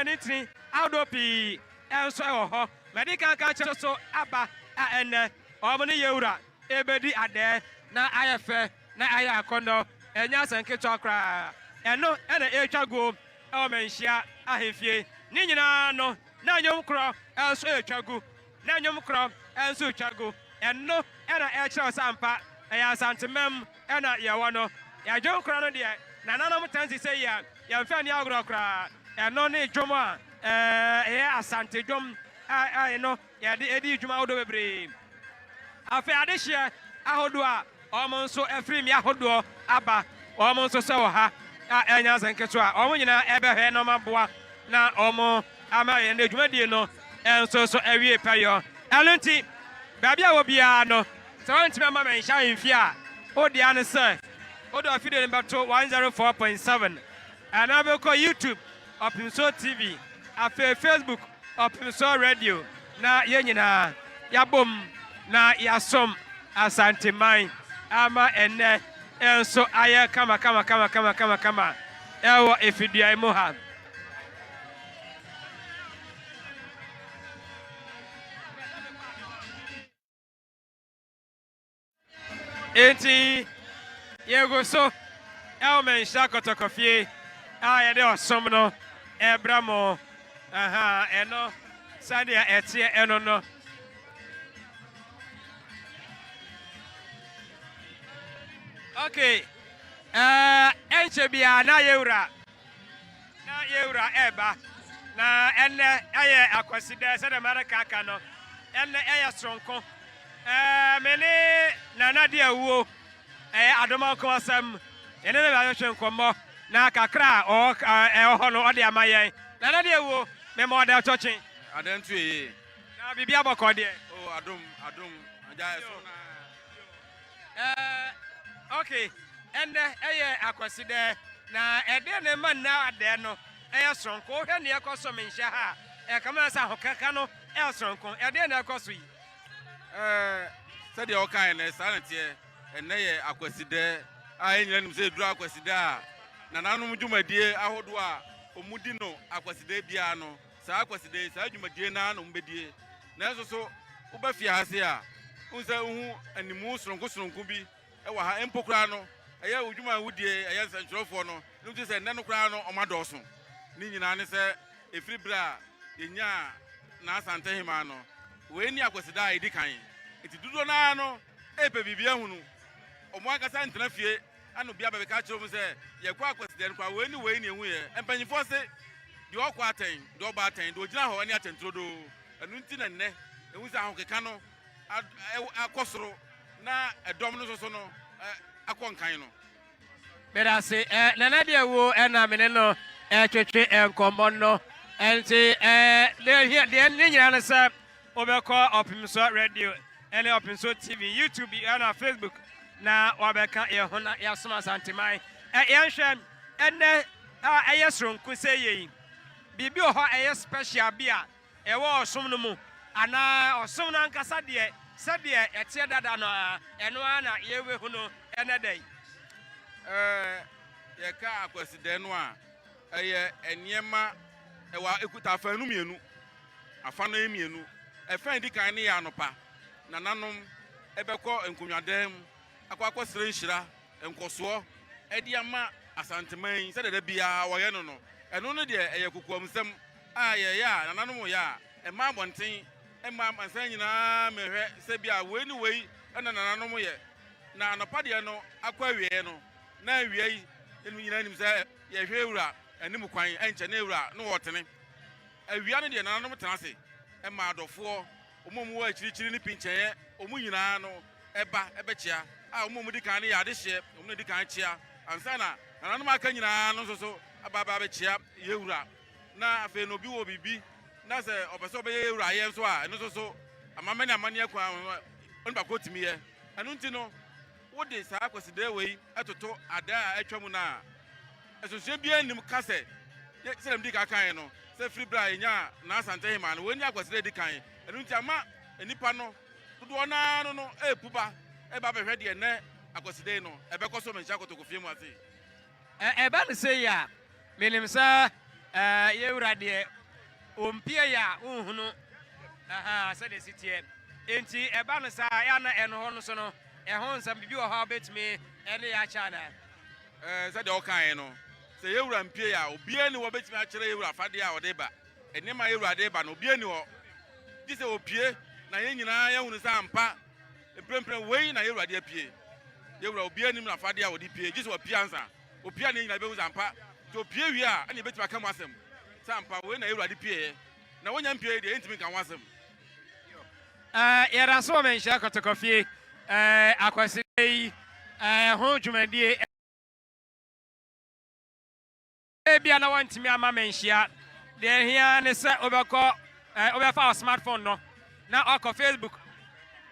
ne tiri ahodoɔ pii nso wɔ hɔ. Madi kan ka kyerɛ so aba a ɛnnɛ wɔn ne Yewura rebɛdi adɛɛ na ayɛ fɛ na ayɛ akɔnnɔ. Ɛnyɛ asɛm ketewa koraa. Ɛno na ɛretwa guo wɔ manhyia ahemfie. Ne nyinaa no, na nnwom korɔ nso retwa gu. na nnwom korɔ nso retwa gu. Ɛno na ɛkyerɛ sɛ ampa ɛyɛ Asantema mu na yɛwɔ no. Yɛn dwom korɔ no deɛ, nananom tan si sei a, yɛmfa nni agorɔ koraa. Ɛno ne dwom a ɛyɛ Asante dwom a ɛno yɛde di dwuma ahodoɔ bebree. Afei adehyeɛ ahodoɔ a Wɔn nso firi mmea ahodoɔ aba, wɔn nso sɛ ɔha a ɛyɛ nyansa nketewa. Wɔn nyinaa bɛhwɛɛ na wɔaboa na wɔama yɛn dwumadie no nso so awie pɛyɛ. Ɛno nti, baabi a wɔ biara no, sɛ wɔantumi amma me nhyɛ amfie a, wo dea ne sɛ wode ɔfidie no bɛto 104.7 anaa wobɛkɔ YouTube Ɔpemsoɔ TV, afei Facebook Ɔpemsoɔ Radio na yɛn nyinaa yɛabom na yɛasom Asanteman ama ɛnnɛ nso ayɛ kamakamakamakama ɛwɔ Efiduai mu ha. Enti yɛgu so ɛwɔ Manhyia Kɔtɔkɔfie a yɛde ɔsom no ɛbrɛ mo. Aha, ɛno sɛdeɛ ɛteɛ ɛno no. Okay, ɛɛ ɛnkyɛ biara na yɛwura Na yɛn Wura reba, na ɛnnɛ ɛyɛ Akwasida, sɛdeɛ Amerika aka no, ɛnnɛ ɛyɛ soronko. Ɛɛ, me ne Nana di awuo, ɛyɛ adoma nko asɛm. Yɛne no bɛhwehwe nkɔmmɔ, na kakra a ɔwɔ ɛwɔ hɔ no, ɔde ama yɛn. Nana di awuo, me ma ɔda ɛtɔ kye. Adɛn nto eye? Na biribi abɔkɔ deɛ? Oh, adom, adom, agya ɛso naa. Eh, okay. Ɛnɛ ɛyɛ akwasidɛ na ɛdeɛ na ɛma nna adɛ no ɛyɛ soronko. Wohwɛ nea ɛkɔ so menhyɛ ha a, ɛkame na sɛ ahokeka no ɛyɛ soronko. Ɛdeɛ na ɛkɔ so yi? Eh, sɛdeɛ wokaeɛ no saa na teɛ. Ɛnɛ yɛ akwasidɛ a yɛn nyinaa nim sɛ ɛduru akwasidɛ a nananom dwumadie ahodoɔ a wɔdi no akwasidɛ biara no Saa Kwasida yi, saa dwumadie no ara na wɔbɛdie. Nanso so woba fie ha se a, wohu sɛ wohu animu soronko soronko bi wɔ ha? Mpo koraa no, ɛyɛ wo dwuma a wodie, ɛyɛ nsɛntwerɛfoɔ no, na wogye sɛ nnɛ no koraa no wɔadɔɔso. Ne nyinaa ne sɛ ɛfiri berɛ a yɛnyaa Naa Santehemman no, wei ne Akwasida a ɛdi kan. Enti dodoɔ no ara no repɛ biribi ahunu. Wɔn ankasa ntena fie Ɛnna obiara bɛbɛka akyerɛ wɔn sɛ, Yɛkɔɔ akwasidɛn koraa. Wei ne wei na yɛhuiɛ. Mpanimfoɔ se, Deɛ ɔkɔ atɛn, deɛ ɔba atɛn, deɛ ɔgyina hɔ ne atɛn turodoo. Ɛno nti na nnɛ yɛhu sɛ ahokeka no akɔ soro na ɛdɔm no nso no akɔ nkan no. Meda ase. Nana deɛ wuo na me ne no retwetwe nkɔmmɔ no. Nti deɛ ɛhia deɛ ne nyinaa ne sɛ Wobɛkɔ Ɔpemsoɔ Radio ne Ɔpemsoɔ TV, YouTube ɛna Facebook na wabɛka yɛn ho na yɛasom Asanteman. Ɛ yɛnhwɛ ɛnɛ a ɛyɛ soronko sɛ yei. Biribi wɔ hɔ a ɛyɛ special bi a ɛwɔ ɔsom no mu anaa ɔsom no ankasa deɛ sɛdeɛ ɛteɛ dada no ara ɛno ara na yɛbɛhu no ɛnɛ da yi. Ɛɛ, yɛka Akwasidɛ no a, Ɛyɛ nneɛma, ɛwɔ, ɛkuta afã no mmienu. Afã no yɛ mmienu. Ɛfã a ɛdi kan no yɛ anɔpa. Nananom bɛkɔ nkonnwadan mu akɔ akɔsrɛ nhyira, nkɔsoɔ de ama Asanteman yi sɛdeɛ da biara wɔyɛ no no. Ɛno no deɛ, ɛyɛ kokoamsɛm a yɛyɛ a nananom reyɛ a ɛmma abɔnten mma amansan nyinaa mmɛhwɛ sɛ bi a wei ne wei na nananom yɛ. Na anɔpa deɛ no akɔ awieeɛ no, na awia yi, yɛn nyinaa nim sɛ, Yɛhwɛ wura anim kwan, ɛnkyɛ na wura no ɔɔtene. Awia no deɛ nananom tena ase ma adɔfoɔ, wɔn a wɔwɔ akyirikyiri ne pinkyɛeɛ, wɔn nyinaa no ba bɛkyea. A wɔn a wɔdi kan no yɛ adehyeɛ, wɔn na ɛdi kan kyea ansa na nananom a aka nyinaa no nso so aba aba abɛkyea yɛwura. Na afei no obi wɔ biribi na sɛ ɔpɛ sɛ ɔbɛyɛ yɛwura ayeɛ nso a, ɛno nso so amamɛne amanneɛ kwan ho onipa korɔ tumi yɛ. Ɛno nti no. Wode saa Kwasidaa wei toto ada a atwa mu no a, nsonsonoeɛ biara nnim ka sɛ, sɛdeɛ mede ka kaeɛ no, sɛ firi berɛ a yɛnyaa Naa Asante Hemaa no, wei ne Akwasidaa a ɛdi kan. Ɛno nti ama nnipa no dodoɔ no ara no no repu ba reba abɛhwɛ deɛ nnɛ Akwasidaa yi no ɛbɛkɔ so menhyɛ akotokofie mu ase. Ɛba no sei a, menim sɛ yɛn Wura deɛ, ɔmpie yɛ a wonhunu sɛdeɛ ɛsi teɛ. Enti ɛba no saa a, ɛyɛ a na ɛno hɔ no so no, ɛho nsɛm, biribi wɔ hɔ a wobɛtumi ne yɛn akyɛ anaa? Sɛdeɛ wokaeɛ no, sɛ yɛn Wura mpie yɛ a, obiara nni hɔ a ɔbɛtumi akyerɛ yɛn Wura afadeɛ a ɔde reba, nneɛma a yɛn Wura de reba no, obiara nni hɔ, gye sɛ ɔpue, na yɛn nyinaa yɛahunu sɛ ampa, Mprempren wei na yɛn Awurade apue. Yɛn Wura, obiara nnim n'afade a ɔde pue, gye sɛ ɔpue ansa. Opue a na yɛn nyinaa behu sɛ ampa, sɛ opue wie a, ɛnna yebetumi aka mu asɛm sɛ ampa wei na yɛn Awurade pueeɛ. Na onnya mpuei deɛ, yentumi nka ho asɛm. Eh, yɛda so wɔ Manhyia Kɔtɔkɔfie eh, Akwasida yi eh, ho dwumadie. Ebia na wɔntumi amma me anhyia. Deɛ ɛhia ara ne sɛ wobɛkɔ, eh, wobɛfa wo smartphone no na wakɔ Facebook,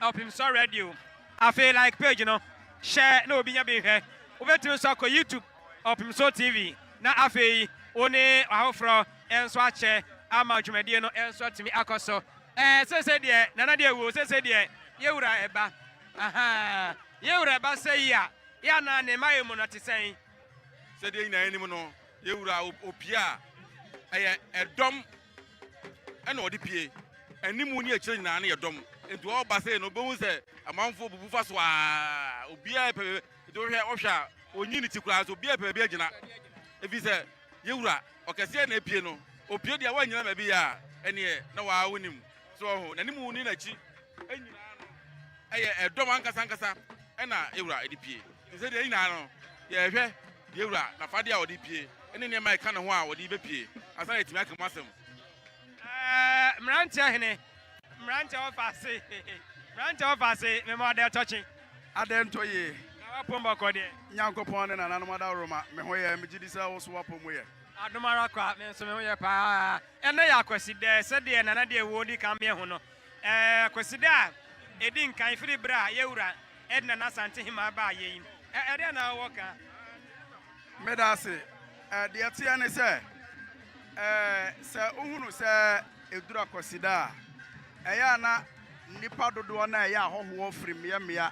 Ɔpemsɔ Radio. Afei like page no, hyɛ na obi nya bi nhwɛ. Wobɛtumi nso akɔ YouTube, Ɔpemsɔ TV, na afei wo ne afoforɔ nso akyɛ ama dwumadie no nso atumi akɔ so. Eh, sese deɛ nana deɛ wuo, sese deɛ yɛwura ɛba. Ahaa, yɛwura ɛba sɛ yi a, yɛ anaa ne mmaeɛ mu no te sɛn? sɛdeɛ nyinaa anim no yɛwura opie a ɛyɛ ɛdɔm ɛna ɔde pie animu ne akyire nyinaa no yɛ dɔm nti ɔba sei no wobɛhu sɛ amanfoɔ bubu fa so a obiaa pɛ nti wohwɛ wohwɛ a ɔnyi ne ti koraa so obiaa pɛ baabi agyina ɛfiri sɛ yɛwura ɔkɛseɛ na apie no opie deɛ woanyina baabi yɛ a ɛneɛ na waa wonim So ɔho, n'anim ne n'akyi nyinaa no ɛyɛ ɛdɔm ankasa ankasa ɛna ewura ɛde pie. Te sɛ deɛ nyinaa no yɛhwɛ deɛ ewura n'afadeɛ a ɔde pie ɛne nneɛma a ɛka ne ho a ɔde bɛpie ansa na yɛtumi aka mu asɛm. Ɛɛ mmeranteɛ hene, mmeranteɛ ɔfa ase, mmeranteɛ ɔfa ase, mema ɔdɛ tɔ kye. Adɛ ntɔ yie. Na w'apom bɔkɔ deɛ? Nyankopɔn ne nananom adaworoma, me ho yɛ, megye di sɛ wo nso w'apom yɛ. Adom ara kwa, me nso me ho yɛ paa. Ɛnnɛ yɛ Akwasida, sɛdeɛ Nana de awuo di kan meɛ ho no. Ɛɛ Akwasida a ɛdi nkan firi berɛ a yɛn wura Ed Nana Asantehemmaa baa yei. Ɛ, ɛdeɛn na wowɔ ka? Meda ase. Ɛ, deɛ ɛteɛ ne sɛ, ɛ, sɛ wohunu sɛ ɛduru Akwasida a, ɛyɛ a na nnipa dodoɔ no a ɛyɛ ahɔhoɔ firi mmeammea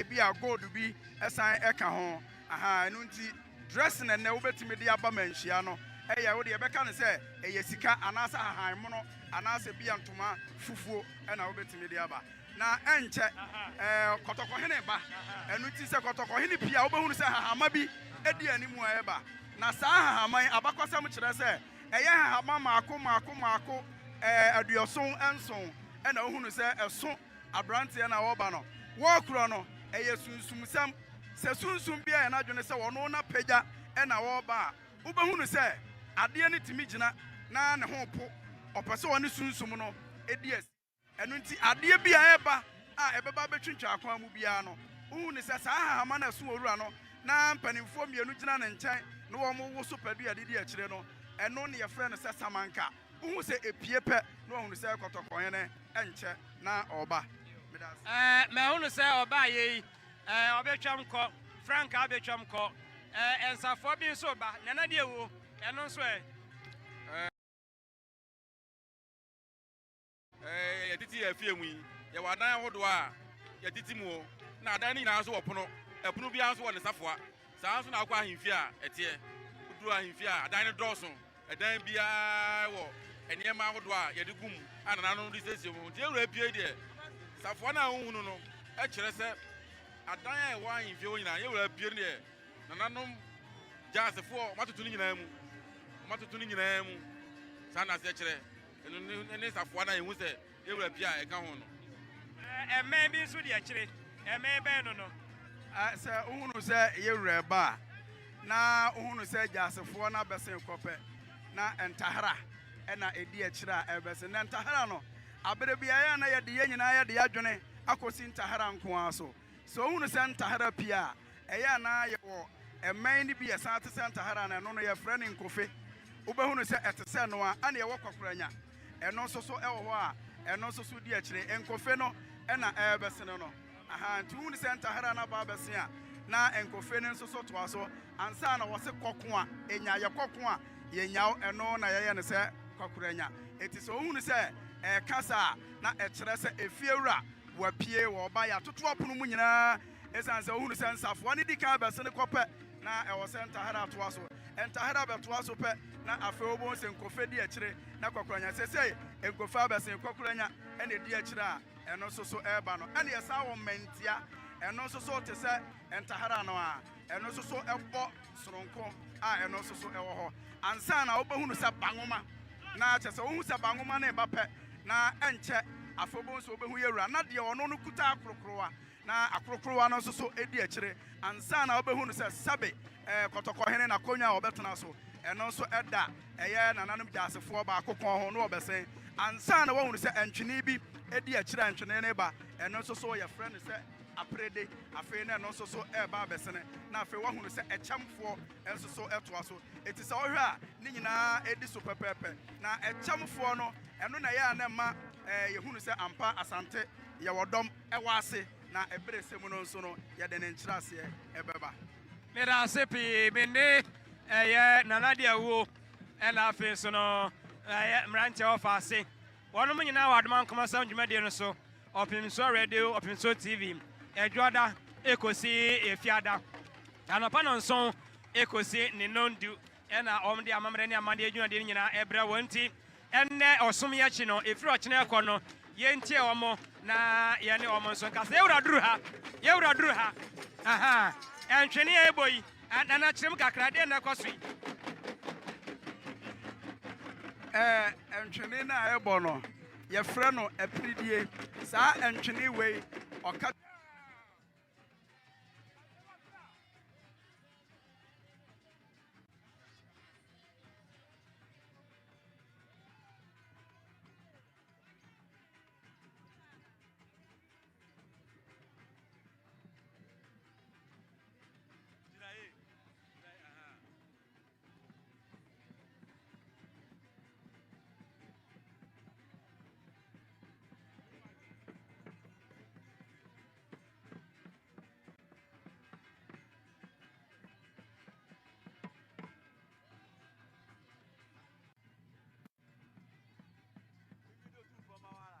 ebi a gold bi ɛsan ɛka ho aha ɛno nti dressing ɛnɛ wobɛtumi de aba manhyia no ɛyɛ wode yɛbɛka no sɛ ɛyɛ sika anaasɛ ahahan mono anaasɛ bia ntoma fufuo ɛna wobɛtumi de aba na ɛnkyɛ ɛɛ kɔtɔkɔhene ba ɛno nti sɛ kɔtɔkɔhene pii a wobɛhunu sɛ hahama bi ɛdi anim a ɛba Na saa nhahamma yi, abakɔsɛm kyerɛ sɛ ɛyɛ nhahamma mmaako mmaako mmaako aduɔson nson na wohunu sɛ ɛso aberanteɛ no a ɔreba no wɔrekorɔ no. Ɛyɛ sunsumsɛm. Sɛ sunsum bi ayɛ n'adwene sɛ ɔno na pagya na ɔreba a, wobɛhunu sɛ adeɛ no tumi gyina na ne ho po, ɔpɛ sɛ ɔne sunsum no di asi. Ɛno nti, adeɛ bi a ɛreba a ɛbɛba abɛtwintwa akwan mu biara no, wohu no sɛ saa hahama no a ɛso wɔ wura no na mpanimfoɔ mmienu gyina ne nkyɛn na wɔwowo so pɛ dua didi akyire no, ɛno na yɛfrɛ no sɛ samanka. Wohu sɛ ɛpue pɛ na wɔahunu sɛ kɔtɔkɔɔhene nkyɛ na ɔreba. Meda ase. Ɛɛ, mahunu sɛ ɔbaeɛ yi, ɛɛ, ɔbɛtwam kɔ, frankaa bɛtwam kɔ. Ɛɛ, nsafoa bi nso reba, Nana deɛ woo, ɛno nso ɛ? Ɛɛ. Yɛtete yɛn afie mu yi, yɛwɔ adan ahodoɔ a yɛtete mu, na adan no nyinaa nso wɔ pono. Ɛpono biara nso wɔ ne safoa. Saa ara nso na wokɔ ahemfie a ɛteɛ. Woduru ahemfie a, adan no dɔɔso. Ɛdan biara wɔ nneɛma ahodoɔ a yɛde gu mu a nananom de siesie wɔn ho. Nti yɛwura pie yi deɛ, safoa no a wohu no no kyerɛ sɛ adan a ɛwɔ ahemfie hɔ nyinaa, yɛwura pie no deɛ, nananom Gyasefoɔ wɔatoto ne nyinaa mu. Wɔatoto ne nyinaa mu. Saa na aseɛ kyerɛ. Ɛno ne, ɛne safoa no a yɛhu sɛ yɛwura pii a ɛka ho no. Mmɛn bi nso di akyire. Mmɛn bɛn no no? Sɛ wohunu sɛ yɛwura reba a, na wohunu sɛ Gyasefoɔ no abɛsen kɔ pɛ, na ntahera na ɛdi akyire a ɛrebɛsen. Na ntahera no, aberɛ biara na yɛde yɛn nyinaa yɛde yɛn adwene akɔsi ntahera nko ara so. Sɛ wohunu sɛ ntahara pii a ɛyɛ a na ayɛ wɔ mmɛn no bi yɛ san te sɛ ntahara no, ɛno no yɛfrɛ no nkofe. Wobɛhunu sɛ ɛte sɛ ɛno ara na ɛwɔ kwakoranya. Ɛno nso so wɔ hɔ a ɛno nso so di akyire. Nkofe no na ɛrebɛsene no. Ahaa, nti wohunu sɛ ntahara no aba abɛse a, na nkofe no nso so toa so. Ansa na wɔse kɔ ko a ɛnya, yɛkɔ ko a yɛnya wo, ɛno na yɛyɛ no sɛ kwakoranya. Enti sɛ wohunu sɛ ɛreka saa a, na ɛkyerɛ sɛ efiewura Wɔapue, wɔreba, yɛatoto apono mu nyinaa esiane sɛ wohunu sɛ nsafoa no di kan bɛsene kɔ pɛ na ɛwɔ sɛ ntahera toa so. Ntahera bɛtoa so pɛ na afei wobohu sɛ Nkofe di akyire na Kɔkoranya. Seesei Nkofe abɛsen Kɔkoranya na edi akyire a ɛno nso so reba no. Ɛnna yɛsan wɔ Mmɛntia, ɛno nso so te sɛ ntahera no ara. Ɛno nso so bɔ soronko a ɛno nso so wɔ hɔ ansa na wobɛhunu sɛ ba nwoma na kyɛ sɛ wohu sɛ ba nwoma no ba pɛ na ɛnkyɛ afei wobɛhu sɛ wobɛhu yɛ wura na deɛ ɔno no kuta akorokorowa na akorokorowa no nso so di akyire ansa na wobɛhunu sɛ sɛbe eh, kɔtɔkɔhene na akonnwa a wɔbɛtena so ɛno nso ɛda ɛyɛ nananom gyasefoɔ baako kɔn ho na wɔbɛsɛn ansa na woahunu sɛ ntwene bi di akyire a ntwene no ba ɛno nso so yɛfrɛ no sɛ apere de, afei na ɛno nso so reba abɛsene, na afei woahunu sɛ ɛkyɛmfoɔ nso so toa so. Enti sɛ wohwɛ a, ne nyinaa di so pɛpɛɛpɛ. Na ɛkyɛmfoɔ no, ɛno na ɛyɛ a na ɛma yɛhunu sɛ ampa Asante yɛ ɔdɔm, ɛwɔ ase, na ɛberɛ sɛ mu no nso no yɛde ne nkyerɛaseɛ bɛba. Meda ase pii. Me ne ɛyɛ Nana Diawuo, ɛna afei nso no ɛyɛ mmeranteɛ ɔfa ase. Wɔnom nyinaa wɔ Adom Ankomasɛm dwumadie no so, Ɔpemsuo Radio, Ɔpemsuo TV, Ɛdwoɔda ekosi Efiada, anɔpa nonson ekosi ne nondu na wɔn de amammerɛ ne amanneɛ dwumadie no nyinaa ɛbrɛ wɔn nti, ɛnnɛ ɔsom yi akyi no, efiri ɔkyena ɛkɔ no, yɛntie wɔn na yɛne wɔn nso nka sɛ yɛwura duru ha, yɛwura duru ha, ahaa, ɛntwene a ɛbɔ yi. Ah, Nana, kyerɛ mu kakra, deɛ na ɛkɔ so yi? Ɛɛ, ntwene no a ɛbɔ no, yɛfrɛ no apiridie. Saa ntwene wei, ɔka. Gyinae. Gyinae, aha. Video tu fama wala.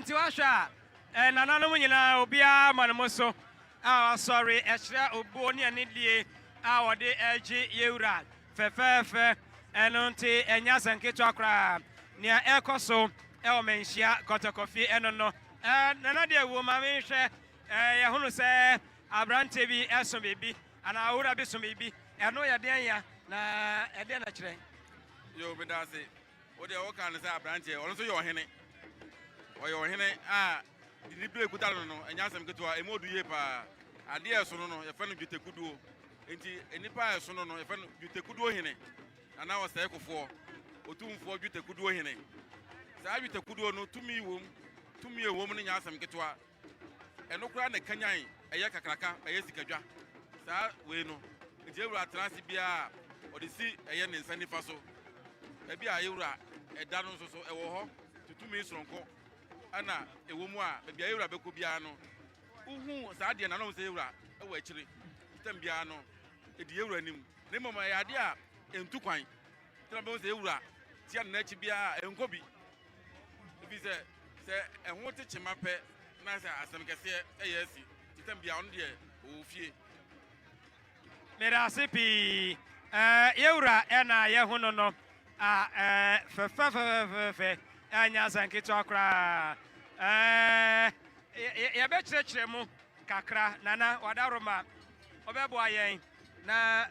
nti woahwɛ a eh, nananom nyinaa obiara ma no mo so a wasɔre ɛkyerɛ obuo ne anidie a wɔde ɛregye yɛwura fɛfɛɛfɛ ɛno nti ɛnyɛ asɛnketewa koraa nea ɛrekɔ so ɛwɔ manhyia kɔtɔkɔfie ɛno no eh, nana deɛ wuo ma menhwɛ eh, yɛhono sɛ Aberanteɛ bi so biribi anaa owura bi so biribi. Ɛno yɛ deɛn ya, na ɛdeɛn na ɛkyerɛ? Yo, meda ase. Wo deɛ woka no sɛ aberanteɛ, ɔno nso yɛ ɔhene. Ɔyɛ ɔhene a didibere kuta no no, ɛnyɛ asɛm ketewa, ɛmu ɔdu yie paa. Adeɛ a ɛsono no, yɛfrɛ no dwetɛkuduo. Enti nnipa a ɛsono no, yɛfrɛ no dwetɛkuduo hene anaa ɔsɛekofoɔ, otumfoɔ dwetɛkuduo hene. Saa dwetɛkuduo no, tumi wom. Tumi a ɛwom no nyɛ asɛm ketewa. ɛno koraa na ɛkanyan ɛyɛ kakraka, ɛyɛ sikadwa. Saa wei no, nti yɛn wura tena ase biara a, ɔde si ɛyɛ ne nsa nifa so. Baabi a yɛn wura ɛda no nso so, ɛwɔ hɔ tutumi soronko ɛna ɛwɔ mu a, baabi a yɛn wura bɛkɔ biara no, wohu saa adeɛ no a, na wohu sɛ yɛn wura ɛwɔ akyire. Tam biara no, ɛdi yɛn wura anim. Na mmom ɛyɛ adeɛ a ɛntu kwan, nti na wobɛhu sɛ yɛn wura tia ne nan akyi biara a, ɛnkɔ bi. Efisɛ sɛ ɛho te kyema pɛ na sɛ asɛm kɛseɛ ɛyɛ asi ntɛm bia ɔno deɛ ɔwɔ fie. Medase pii eh yɛwura ɛna yɛho no no ah eh fɛfɛfɛfɛfɛ eh nyɛ asɛm ketewa koraa eh yɛbɛkyerɛkyerɛ mu kakra nana wadaroma ɔbɛboa yɛn na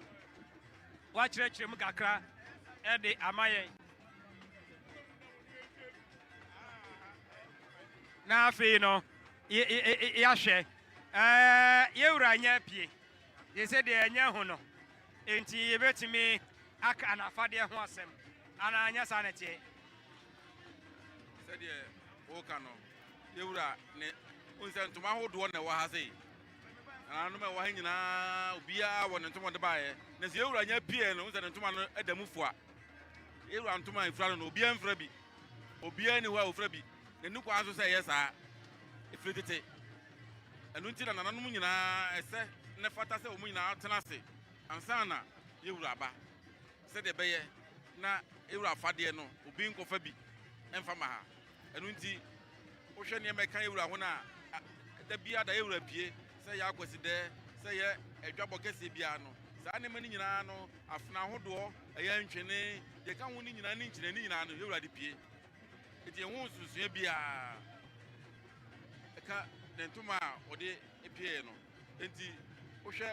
wakyerɛkyerɛ mu kakra ɛde ama yɛn. na afei no yɛahwɛ yɛwura nyɛ pie de sɛ deɛ ɛnyɛ ho no enti yɛbɛtumi aka anafadeɛ ho asɛm anaa nyɛ saa na ɛteɛ sɛdeɛ woka no yɛwura ne wohu sɛ ntoma ahodoɔ na ɛwɔ ha sei nananom ɛwɔ ha nyinaa obiara wɔ ne ntoma ɔde baeɛ na sɛ yɛwura nyɛ pie no wohu sɛ ne ntoma no da mu foa Yɛwura ntoma a efura no na obiara mfura bi. Obiara nni hɔ a ofura bi. N'ani kwan so sɛ ɛyɛ saa. Efiri tete. Ɛno nti na nananom nyinaa ɛsɛ na ɛfata sɛ wɔn nyinaa tena ase ansa na yɛwura aba. Sɛdeɛ ɛbɛyɛ na yɛwura afadeɛ no, obi nkɔfa bi mfa ma ha. Ɛno nti, wohwɛ nneɛma a ɛka yɛn wura ho no a, da biara da yɛn wura pie, sɛ ɛyɛ Akwasidɛɛ, sɛ ɛyɛ adwabɔ kɛseɛ biara no, saa nneɛma no nyinaa no, afena ahodoɔ, ɛyɛ ntwene, deɛ ɛka ho no nyinaa ne nkyene, ne nyinaa no, yɛn wura de pie. Nti yɛn ho nsonsoeɛ biara ɛka ne ntoma a ɔde pieeɛ no. Nti wohwɛ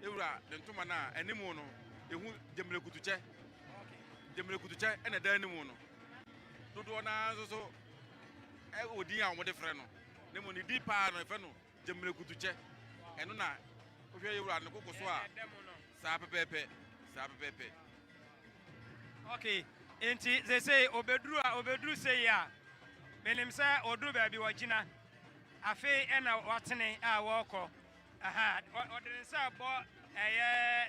yɛn wura ne ntoma no a, anim no, yɛhu gyamire kutukyɛ. Gyamire kutukyɛ na ɛda anim no. Dodoɔ no ara nso so wɔ din a wɔde frɛ no, na mmom ne din pa ara no, wɔfrɛ no Gyammerɛkutukyɛ. Ɛno na wohwɛ yɛn wura no koko so a, saa pɛpɛɛpɛ, saa pɛpɛɛpɛ. Ok, nti seesei ɔbɛduru a, ɔbɛduru sei a, menim sɛ ɔduru baabi wagyina, afei ɛna watene a wɔrekɔ. Aha, ɔde ne nsa bɔ ɛyɛ.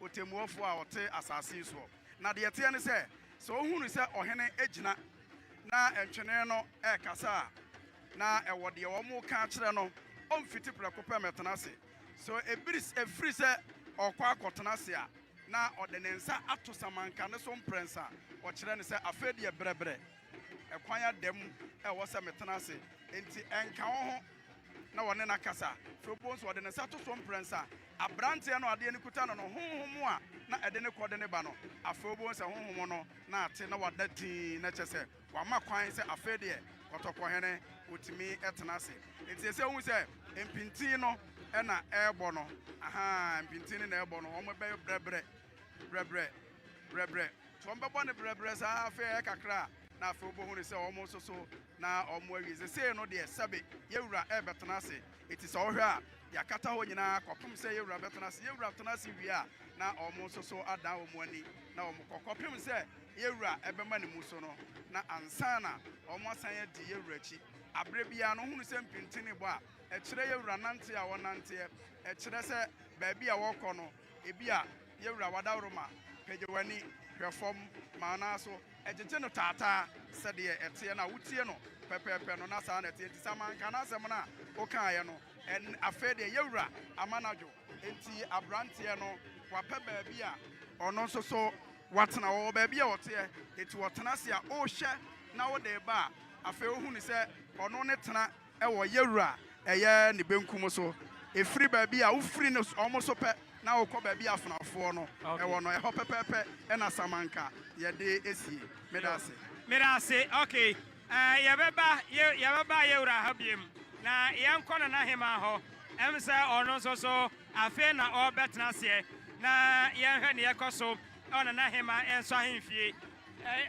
ɔtɛmmuafoɔ a ɔte asase yi soɔ. Na deɛ ɛteɛ ne sɛ, sɛ ɔhunu sɛ ɔhene agyina na ntwene no rekasa a, na ɛwɔ deɛ wɔreka akyerɛ no, ɔmfiti prɛko pɛ mmɛtena ase. Sɛ ɛbiri, ɛfiri sɛ ɔrekɔ akɔtena ase a, na ɔde ne nsa ato samanka no so mprɛnsa, ɔkyerɛ no sɛ, Afei deɛ brɛbrɛ, ɛkwan ada mu a ɛwɔ sɛ metena ase, enti ɛnka wo ho na wɔne no akasa. Afei wobɛhu sɛ ɔde ne nsa to so mprɛnsa, Aberanteɛ no a adeɛ no kuta no no honhom a na ɛde no kɔ de no ba no, afei wobɛhu sɛ honhom no na ate na wada dinn, na kyerɛ sɛ wama kwan sɛ afei deɛ kɔtɔkɔhene ɔtumi tena ase. Nti ɛsɛ sɛ wohu sɛ mpintin no na ɛrebɔ no, ahaa, mpintin no na ɛrebɔ no, wɔn bɛyɛ brɛbrɛ, brɛbrɛ, brɛbrɛ, nti wɔn bɛbɔ no brɛbrɛ saa, afei ɛyɛ kakra a na afei wobɛhunu sɛ wɔn nso so na wɔn awie, sesei no deɛ sɛbe yɛn wura ɛrebɛtena ase. Enti sɛ wohwɛ a, yɛakata hɔ nyinaa kɔpem sɛ yɛn wura bɛtena ase. Yɛn wura tena ase wie a, na wɔn nso so adan wɔn ani na wɔkɔ, kɔpem sɛ yɛn wura bɛma ne mu so no, na ansa na wɔasan adi yɛn wura akyi. Aberɛ biara no, wohunu sɛ mpintinibɔ a ɛkyerɛ yɛn wura nante a wɔnanteɛ, ɛkyerɛ sɛ baabi a wɔkɔ no, Ebia yɛwura w'adaworo ma, pagya w'ani hwɛ fam ma wo nan so, gyegye no taataa sɛdeɛ ɛteɛ no a wotie no pɛpɛɛpɛ no, na saa na ɛteɛ, enti sɛ manka n'asɛm no a wokaeɛ no, ɛn, afei deɛ yɛwura ama no adwo. Enti aberanteɛ no, wapɛ baabi a ɔno nso so watena, ɔwɔ baabi a ɔteɛ, enti ɔtena ase a ɔrehwɛ na wode reba a, afei ɔhunu sɛ ɔno ne tena, wɔ Yɛwura a ɛyɛ ne benkum so, ɛfiri baabi a wofiri ne so, wɔn so pɛ, na wokɔ baabi a afenafoɔ no wɔ no, ɛhɔ pɛpɛɛpɛ na Samanka yɛde asie. Meda ase. Meda ase. Ok, eh, yɛbɛba, yɛ, yɛbɛba Yɛwura ha biem, na yɛnkɔ Nana Hemaa hɔ. Ɛm sɛ ɔno nso so, afei na ɔrebɛtena aseɛ, na yɛnhwɛ deɛ ɛkɔ so wɔ Nana Hemaa nso ahemfie. Eh,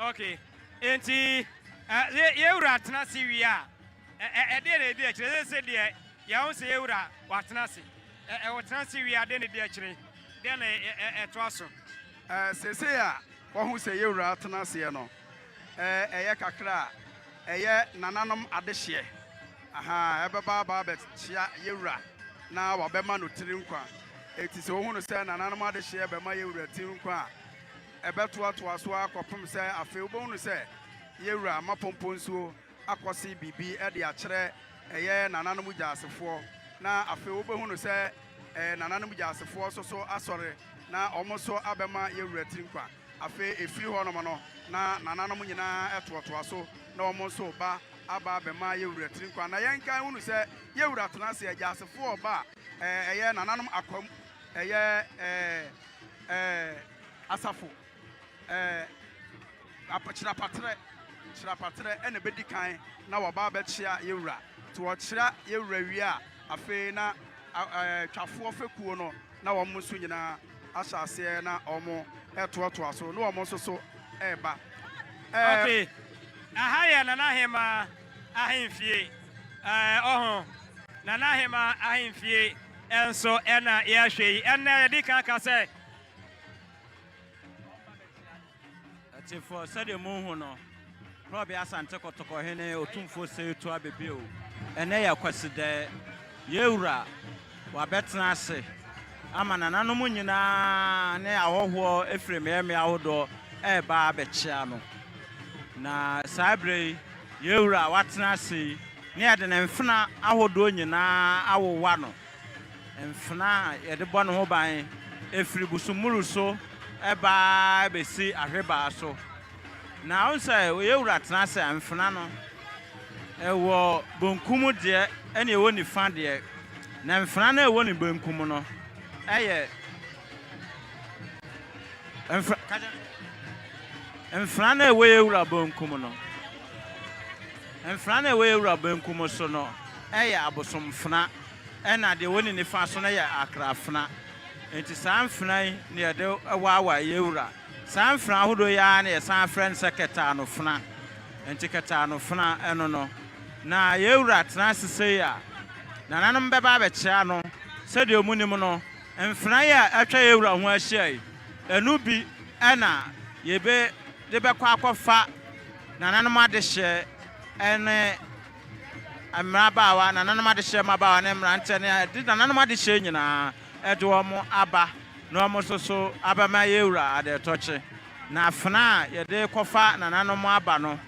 Ok, enti yɛn Wura tena ase wie a, ɛdeɛn na ɛdi akyire? Seesei deɛ yɛahu sɛ yɛn Wura watena ase. Ɔtena ase wie a, deɛn na ɛdi akyire? Deɛn na ɛtoa so? Seesei a wahu sɛ yɛn Wura atena aseɛ no, ɛyɛ kakra a, ɛyɛ nananom adehyeɛ. Ahaa, ɛbɛba a aba abɛkyea yɛn Wura na wɔabɛma no tiri nkwa. Enti sɛ wohu no sɛ nananom adehyeɛ rebɛma yɛn Wura tiri nkwa a, Ɛbɛtoatoa so ara kɔpem sɛ afei wobɛhunu sɛ Yewura Mmapɔmpɔ Nsuo akɔse biribi de akyerɛ ɛyɛ Nananom Gyasefoɔ, na afei wobɛhunu sɛ ɛyɛ Nananom Gyasefoɔ nso so asɔre, na wɔn nso abɛma Yewura Tiri nkwa. Afei ɛfiri hɔnom no na Nananom nyinaa toatoa so na wɔn nso reba aba abɛma Yewura Tiri nkwa. Na yɛnkan hunu sɛ Yewura tena ase, Agyasefoɔ reba a eh, ɛyɛ nananom akwam, ɛyɛ eh, eh, asafo eh, apakyerapaterɛ kyerapaterɛ ɛna ɛbɛdi kan na wɔba abɛkyea yɛwura nti wɔkyera yɛwura wie a afei na eh, twafoɔ fekuo no na wɔn nso nyinaa ahyɛ aseɛ na wɔn ɛtoatoa so na wɔn nso so ɛreba eh, Okay. Aha yɛ Nana Hemaa. ahemfie ɔho na n'aheman ahemfie nso na yɛhwɛ yi. Ɛnnɛ yɛde kan ka sɛ Atifo sɛdeɛ mohu no, Prɔbe Asante Kɔtɔkɔ Hene Otumfoɔ Seyetu Abebe o, ɛnnɛ yɛ Kwasidaɛ, yɛn wura, Wɔabɛtena ase ama nananom nyina ara ne ahɔhoɔ firi mmeammea ahodoɔ reba abɛkyea no. Na saa berɛ yi, yɛn Wura a watena ase yi, ne yɛde ne mfena ahodoɔ nyina ara awowa no, mfena a yɛde bɔ ne ho ban firi Busummuru so ba ara bɛsi Ahwebaa so. Na wohu sɛ yɛn Wura tena ase a, mfena no, Ɛwɔ bonkum deɛ ɛna ɛwɔ nifa deɛ, na mfena no a ɛwɔ ne benkum no ɛyɛ mfena mfena no a ɛwɔ yɛ wura bonkum no mfena no a ɛwɔ yɛ wura benkum so no ɛyɛ abosomfena ɛna deɛ ɛwɔ ne nifa so no yɛ akrafena nti saa mfena yi na yɛde waawae yɛ wura Saa mfena ahodoɔ yi ara na yɛsan frɛ no sɛ kɛtɛanofena. Nti kɛtɛanofena ɛno no na yɛn wura tena ase sei a nananom bɛba abɛkyea no. Sɛdeɛ ɔmu nim no mfena yi a atwa yɛn wura ho ahyia yi ɛno bi na yɛbɛ de bɛkɔ akɔ fa nananom adehyeɛ ɛne mmerabaawa nananom adehyeɛ mmabaawa ne mmeranteɛ ne ɛde nananom adehyeɛ nyinaa. de wɔn aba na wɔn nso so abɛma yɛawura Adɛtɔkye. Na afena a yɛde rekɔfa nananom aba no,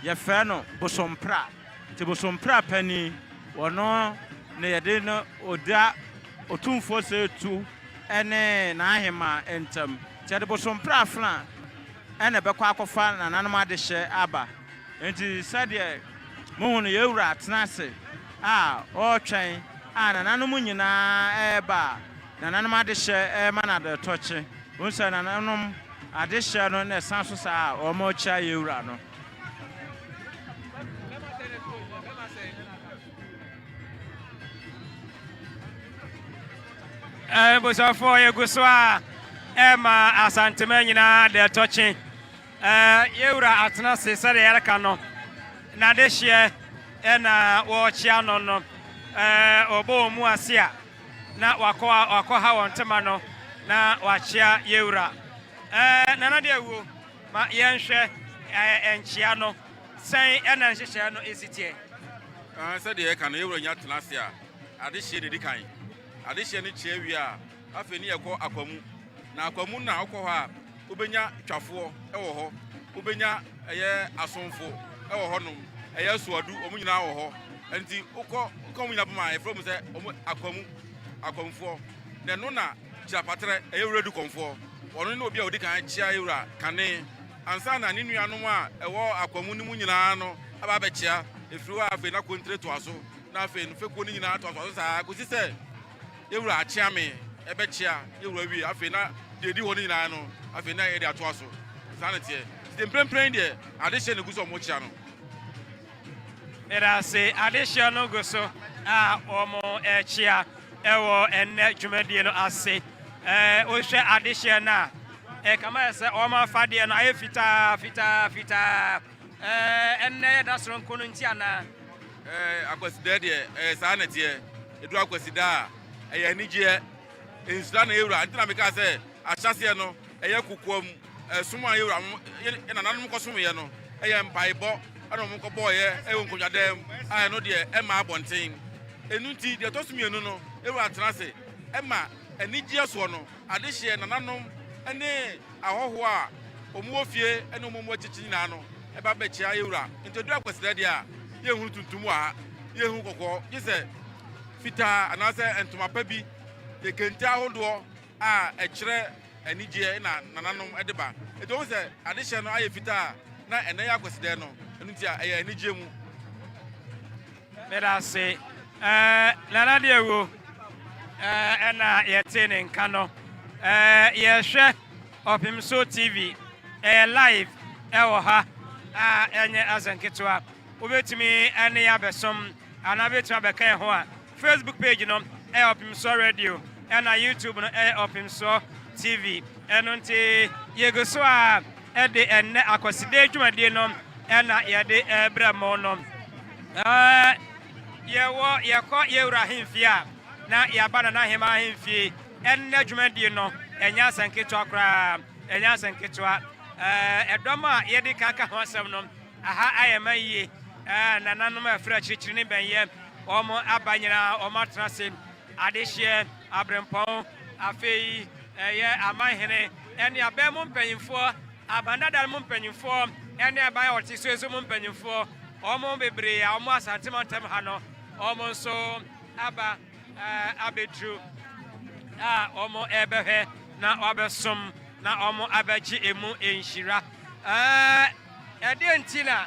yɛfrɛ no Bosompra. Nti Bosompra panin, ɔno na yɛde no ɔda Otumfoɔ Seitu ne n'ahemaa ntam. Nti yɛde Bosompra afena na ɛbɛkɔ akɔfa nananom adehyɛ aba. Enti sɛdeɛ mohu no yɛn Wura atena ase a ɔretwɛn a nananom nyina ara reba a nananom adehyeɛ rema no aderetɔkye. Wohu sɛ nananom adehyeɛ no na ɛsan so saa a wɔrekyea yɛn Wura no. Abusuafoɔ yɛgu so a ɛrema Asanteman nyina ara aderetɔkye. Yɛn Wura atena ase sɛdeɛ yɛreka no n'adehyeɛ na wɔrekyea no no, wɔbɔ wɔn mu ase a na wakɔha wɔn tema no na wakyea yɛn Wura. Nana de awuo, ma yɛnhwɛ nkyea no, sɛn na nhyehyɛɛ no si teɛ? Sɛdeɛ yɛreka no, yɛn Wura nya tena ase a, adehyeɛ na ɛdi kan. Adehyeɛ no kyea wie a, Afei ne yɛkɔ Akwamu. Na Akwamu no a wokɔ hɔ a, wobɛnya twafoɔ wɔ hɔ, wobɛnya ɛyɛ asomfo wɔ hɔnom, ɛyɛ soadu, wɔn nyinaa wɔ hɔ. Nti wokɔ wokɔ wɔn nyinaa pam a, yɛfrɛ mu sɛ wɔn Akwamu, Akwamufoɔ. Na ɛno na Kyirapatrɛ, ɛyɛ Wura Dukɔnfoɔ. Ɔno ne obi a ɔdi kan kyia yɛn Wura Kane. Ansa na ne nuanom a ɛwɔ Akwamu no mu nyinaa no aba abɛkyia. Ɛfiri hɔ a, afei na Kontre toa so, na afei no fekuo no nyinaa toa so saa kɔsi sɛ, Yɛn wura akyea me, ɛbɛkyea yɛn wura wie. Afei na deɛ ɛdi hɔ no nyinaa no, afei na yɛde atoa so. Saa na teɛ. Sɛ mprempren deɛ, adehyeɛ na ɛgu so a wɔkyea no. Ɛdaase adehyeɛ no gu so a wɔkyea wɔ ɛnnɛ dwumadie no ase. Wohwɛ adehyeɛ no a, ɛkama yɛ sɛ wɔn afadeɛ no ayɛ fitaa fitaa fitaa. Ɛɛ, nnɛ yɛ da soronko no nti anaa? Ɛɛ, Akwasidaɛ deɛ, ɛɛ, saa na ɛteɛ. Ɛduru Akwasidaa a, ɛyɛ anigyeɛ. Nhyira na yɛwura. Nti na mekaa sɛ, ahyɛaseɛ no, ɛyɛ kokoam som a yɛwuranom, yɛn, yɛn nananom kɔsomeeɛ no. Ɛyɛ mpaebɔ na wɔkɔbɔeɛ wɔ nkonnwadam mu a ɛno deɛ, ɛmmaa abɔnten. Ɛno nti, deɛ ɛtɔ so mmienu no, yɛwura tena ase ma anigyeɛ soɔ no, adehyeɛ, nananom ne. ahɔho a wɔn wɔ fie ne wɔn mmoa kyekye nyinaa no ba bɛkyea yɛn wura. Nti ɛduru akwasida deɛ a, yɛnhunu tuntum wɔ ha, yɛnhunu kɔkɔɔ, gye sɛ fitaa anaasɛ ntoma pa bi, yɛ kente ahodoɔ a ɛkyerɛ anigyeɛ na nananom de ba. Nti wɔn sɛ adehyɛ no ayɛ fitaa a, na ɛnɛ yɛ akwasida no, ɛno nti a ɛyɛ anigyeɛ mu. Meda ase. Eh, Nana deɛ wuo. Eh, ɛna yɛtee ne nka no. Eh, yɛhwɛ Ɔpemso TV. Ɛyɛ eh, live ɛwɔ eh, ha. A ɛnyɛ asɛ nketewa. Wobɛtumi ɛne abɛsom anaa bɛtumi abɛka yɛn ho a. Facebook page no ɛyɛ Ɔpemsoɔ Radio. Ɛna YouTube no ɛyɛ Ɔpemsoɔ TV. Ɛno nti yɛgu so a de ɛnnɛ Akwasideɛ dwumadie no na yɛde rebrɛ mo no. Yɛwɔ yɛkɔ yɛwura ahemfie a na yɛaba Nana Ahemmaa ahemfie. Ɛnnɛ dwumadie no ɛnyɛ asɛm ketewa koraa, ɛnyɛ asɛm ketewa. Ɛdɔm a yɛde ka ka ho asɛm no, aha ayɛ ma yie. Nananom a ɛfiri akyirikyiri ne bɛnyɛ, wɔn aba nyinaa wɔn atena ase, adehyeɛ, aberempɔn, afei Ɛyɛ amanhene ne aban mu mpanyimfoɔ, aban dada no mu mpanyimfoɔ ne aban a wɔte so nso mu mpanyimfoɔ, wɔn bebree a wɔn Asante mantam ha no, wɔn nso aba abɛduru a wɔrebɛhwɛ na wɔabɛsom na wɔn abɛgye emu nhyira. Ɛdeɛ nti na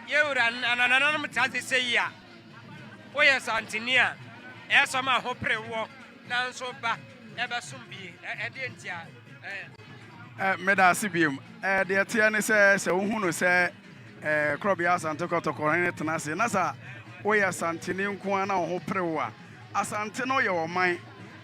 yɛwura ananananom ta de sɛ yi a woyɛ santeni a ɛsɔ ma ho pere woɔ. Nanso ba, ɛbɛsom bi. Ɛdeɛ nti a, ɛɛ. Meda ase biom. Ɛɛ, deɛ ɛteɛ ne sɛ, sɛ wohu no sɛ ɛɛ Korɔbea Asante Kɔtɔkɔrɔhene tena ase na sɛ woyɛ Asanteni nko ara na wo ho pere wo a, Asante no yɛ ɔman,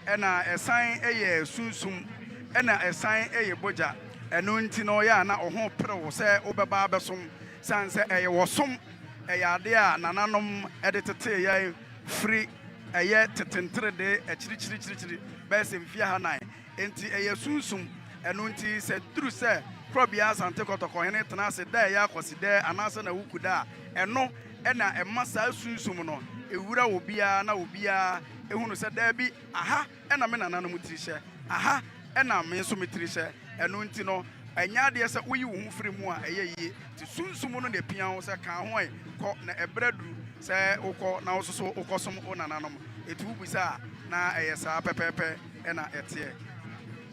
ɛna ɛsan yɛ sunsum, ɛna ɛsan yɛ bogya. Ɛno nti no, yɛ a na wo ho pere wo sɛ wobɛba abɛsom, sane sɛ ɛyɛ ɔsom, ɛyɛ adeɛ a nananom de tetee yɛn. firi ɛyɛ tete nteredee akyirikyirikyirikyiri bɛyɛ sɛ mfeɛ ahanan, enti ɛyɛ sunsum. Ɛno nti, sɛ ɛduru sɛ Korɔbea Asante Kɔtɔkɔ hene tena ase da a ɛyɛ Akwasida anaasɛ n'awukuda a, ɛno na ɛma saa sunsum no wura obiara na obiara hunu sɛ, daabi, aha! na me nananom tiri hyɛ, aha na me nso me tiri hyɛ. Ɛno nti no, ɛnyɛ adeɛ sɛ woyi wo ho firi mu a ɛyɛ yie. Te Sunsum no na ɛpia wo sɛ ka ho ɛ, kɔ, na ɛberɛ aduru sɛ wokɔ na wo nso so wokɔsom wo nananom. Ɛti wobisa a, na ɛyɛ saa pɛpɛɛpɛ na ɛteɛ.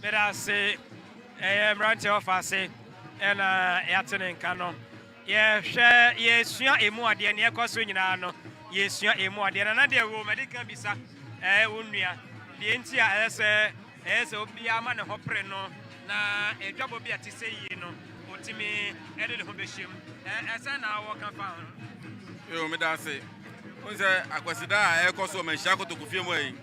Meda ase, ɛyɛ mmeranteɛ ɔfa ase na yɛate ne nka no. Yɛhwɛ, yɛsua ɛmu adeɛ, nea ɛkɔ so nyinaa no, yɛsua ɛmu adeɛ. Nana deɛ wɔ mɛde ka bisa ɛɛ wo nua deɛ nti a ɛyɛ sɛ ɛyɛ sɛ obiara ma ne ho pere no na adwabɔ bi a te sɛ yie no ɔtumi de ne ho bɛhyɛ mu ɛɛ ɛsɛ na wɔka fa ho. Yoo meda ase. Wo sɛ akwasida a ɛkɔ so wɔ manhyia kotoko fie mu ayi.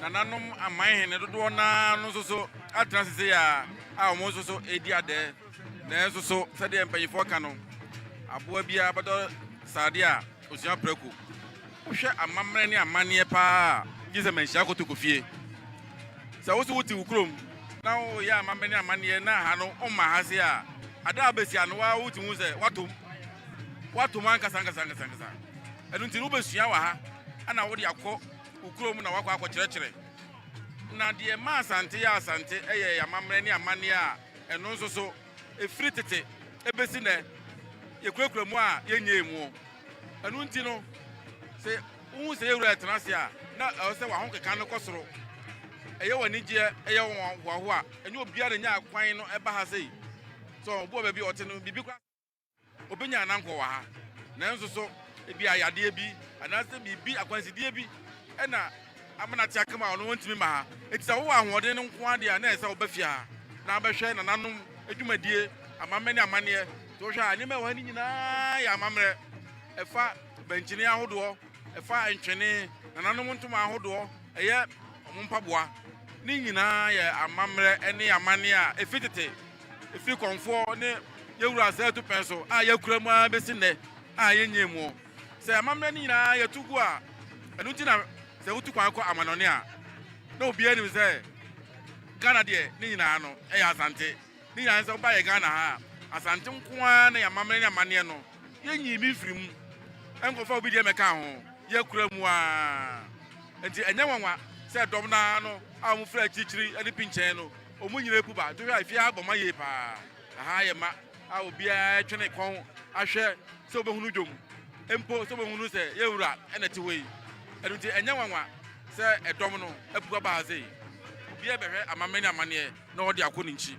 Nananom aman hene dodoɔ naa no nso so atena sese a a wɔn nso so ɛredi adɛɛ. Nanso so sɛdeɛ mpanimfoɔ ka no, aboa biara bɛdɔ sradeɛ a ɔsua prɛko? Wohwɛ amammerɛ ne amanneɛ paa a, gye sɛ manhyia kɔtɔ kɔ fie. Sɛ wo nso wote wo kurom na woyɛ amammerɛ ne amanneɛ na ha no womma ha ase a, ada a bɛsi ano ara wotumi hu sɛ woatom. Woatom ankasa ankasa ankasa ankasa. Ɛno nti no wobɛsua wɔ ha na wode akɔ wo kurom na woakɔ akɔkyerɛkyerɛ. Na deɛ ɛma Asante yɛ Asante yɛ amammerɛ ne amanneɛ a, Ɛno nso so, ɛfiri tete bɛsi nnɛ, yɛkurakura mu a yɛnyɛɛ mu. Ɛno nti no, sɛ wohu sɛ yɛn Wura retena ase a, na ɛwɔ sɛ w'ahokeka no kɔ soro. Ɛyɛ wo anigyeɛ, ɛyɛ wo hoahoa. Ɛnyɛ obiara na ɛnya kwan no ba ha sei. So wobɔ baabi a ɔte no biribi koraa? Obenya n'ankɔ wɔ ha, nanso so ebia yadeɛ bi anaasɛ biribi, akwansideɛ bi na ama no ate akam a ɔno ɔntumi mma ha? Enti sɛ wowɔ ahoɔden no nko ara deɛ a, na ɛsɛ sɛ woba fie ha na wobɛhwɛ nananom dwumadie, amammerɛ ne amanneɛ. Nti wohwɛ a, nneɛma a ɛwɔ ha no nyinaa yɛ amammerɛ. Ɛfa bɛnkyene ahodoɔ, ɛfa ntwene, nananom ntoma ahodoɔ, ɛyɛ wɔn mpaboa. Ne nyinaa yɛ amammerɛ ne amanneɛ a ɛfiri tete Efi kɔmfoɔ ne yɛn wura Zɛɛtu pɛn so a yɛakura mu ara bɛsi nnɛ a yɛnnyɛɛ mu. Sɛ amammerɛ no nyinaa yɛtu gu a, ɛno nti na sɛ wotu kwan kɔ amanɔne a, na obiara nim sɛ Ghana deɛ ne nyinaa no yɛ Asante. Ne nyinaa ne sɛ woba yɛn Ghana ha a, Asante nko ara na yɛn amammerɛ ne amanneɛ no, yɛnyii bi mfirii mu nkɔfaa obi deɛ mmɛkaa ho, yɛakura mu ara. Enti ɛnyɛ nwanwa sɛ dɔm no ara no a wɔfiri akyirikyiri ne pinkyɛn no Ɔmo nyina eku ba ntohwɛ a efie ha bɔ ma yie paa aha ayɛ ma a obiaa ɛtwe ne kɔn ahwɛ sɛ obehunu dwom mpo sɛ obehunu sɛ yɛn wura ɛna ɛte hɔ yi ɛno nti ɛnyɛ nwanwa sɛ ɛdɔm no apu aba ha sei obiaa bɛhwɛ amammerɛ ne amaneɛ na ɔde akɔ ne nkyi.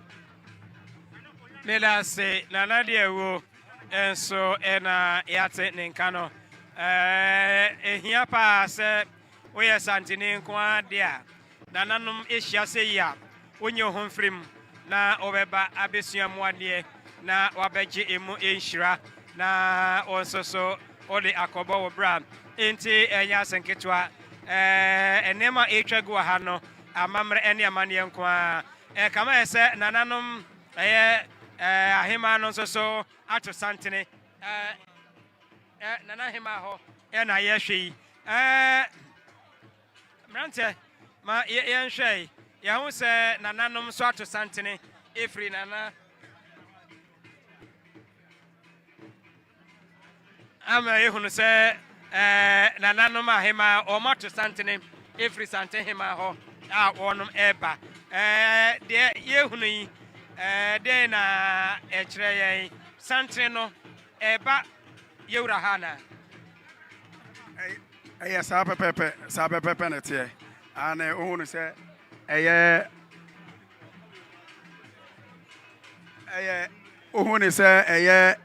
Medase nana deɛ wo nso na yɛate ne nka no ɛɛ ehia paa sɛ woyɛ santini nko ara deɛ a Nananom ehyia sɛ yi a, wonyi woho mfir mu na wɔbɛba abesua mu adeɛ na wɔabɛgye emu nhyira na wo nso so wode akɔbɔ wo bra. Enti ɛnyɛ ase nketewa. Ɛɛ, nneɛma a ɛretwa gu wɔ ha no, amammerɛ ne amanneɛ nko ara. Ɛka ma yɛ sɛ nananom ɛyɛ ɛɛ ahemaa no nso so ato santene. Ɛɛ, ɛɛ nana ahemaa hɔ na yɛhwɛ yi. Ɛɛ. Mmeranteɛ, ma yɛnhwɛ yi. Yɛahu sɛ nananom nso ato santene ɛfiri nana ama yɛhunu sɛ ɛɛ nananom ahemaa wɔn ato santene ɛfiri santene hemaa hɔ a wɔnom ɛreba ɛɛ deɛ yɛhunu yi ɛɛ deɛ na ɛkyerɛ yɛn santene no ɛreba yɛwura ha na. Ɛyɛ saa pɛpɛɛpɛ, saa pɛpɛɛpɛ na ɛteɛ. Aane, wohu no sɛ ɛyɛ, ɛyɛ, wohu no sɛ ɛyɛ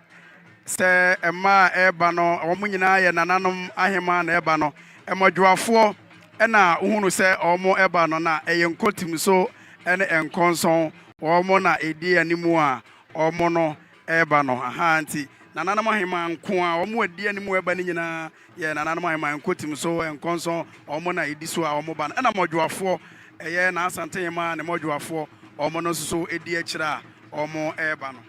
sɛ mmaa a ɛreba no, wɔn nyinaa yɛ nananom ahemaa na ɛreba no, mmɔdwoafoɔ na wohu no sɛ wɔreba no, na ɛyɛ nkotimso ne nkɔnsɔn, wɔn na ɛdi anim a wɔn no reba no, ahaa, nti nananom ahemaa nko ara, wɔn a ɛdi anim reba no nyinaa, Yɛ nananom aheman nkotim so nkɔnsɔn wɔn na ɛdi so a wɔn ba no ɛna mmɔdwoafoɔ ɛyɛ n'Asante hemaa ne mmɔdwoafoɔ wɔn no nso so ɛdi akyire a wɔn ɛreba no.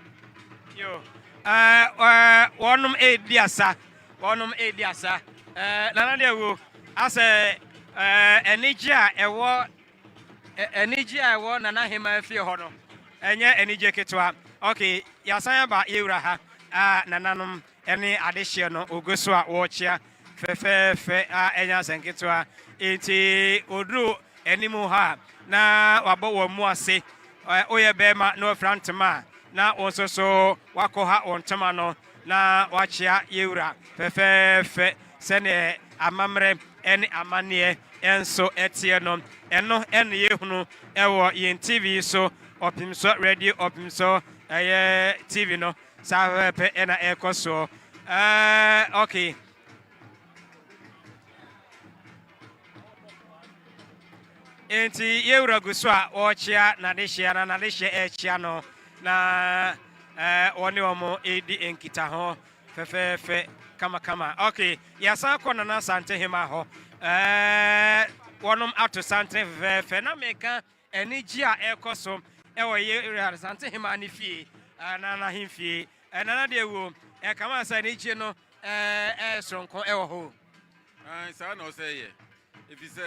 Yo, eh, eh, wɔnom ɛredi asa, wɔnom ɛredi asa, eh, nana deɛ wo asɛ eh, anigye a ɛwɔ eh, anigye a ɛwɔ nana hemaa fie hɔ no ɛnyɛ anigye ketewa. Okay, yɛasan aba yɛwura ha, ah, nananom. Ɛne adehyeɛ no ɔgu so a ɔrekyea fɛfɛɛfɛ a ɛnyɛ asɛnketewa. Enti ɔduru anim hɔ a na wabɔ wɔn mu ase. Woyɛ bɛrima na wafira ntoma a na wo nso so wakɔha wo ntoma no na wakyea yɛ wura fɛfɛɛfɛ sɛdeɛ amammerɛ ne amanneɛ nso teɛ no. Ɛno na yɛhunu wɔ yɛn TV so, Ɔpemsoɔ Radio Ɔpemsoɔ ɛyɛ TV no Saa pɛpɛpɛ ɛna ɛkɔ soɔ. Uh, okay. Enti yɛwura gu so a wɔrekyea n'adehyeɛ na n'adehyeɛ ɛrekyea no na wɔne wɔn redi nkitaho fɛfɛɛfɛ kamakama. Okay, yɛasan kɔ Nana Asante Hema hɔ. Wɔnom ato santen fɛfɛɛfɛ na meka Anigye a ɛrekɔ so wɔ Yehoram Asante Hemmaa no fie anaa n'ahemfie ɛnna no deɛ wuo, ɛka ma sɛ anigye no ɛyɛ soronko wɔ hɔ. Aane, saa na ɔsɛ yɛ, ɛfiri sɛ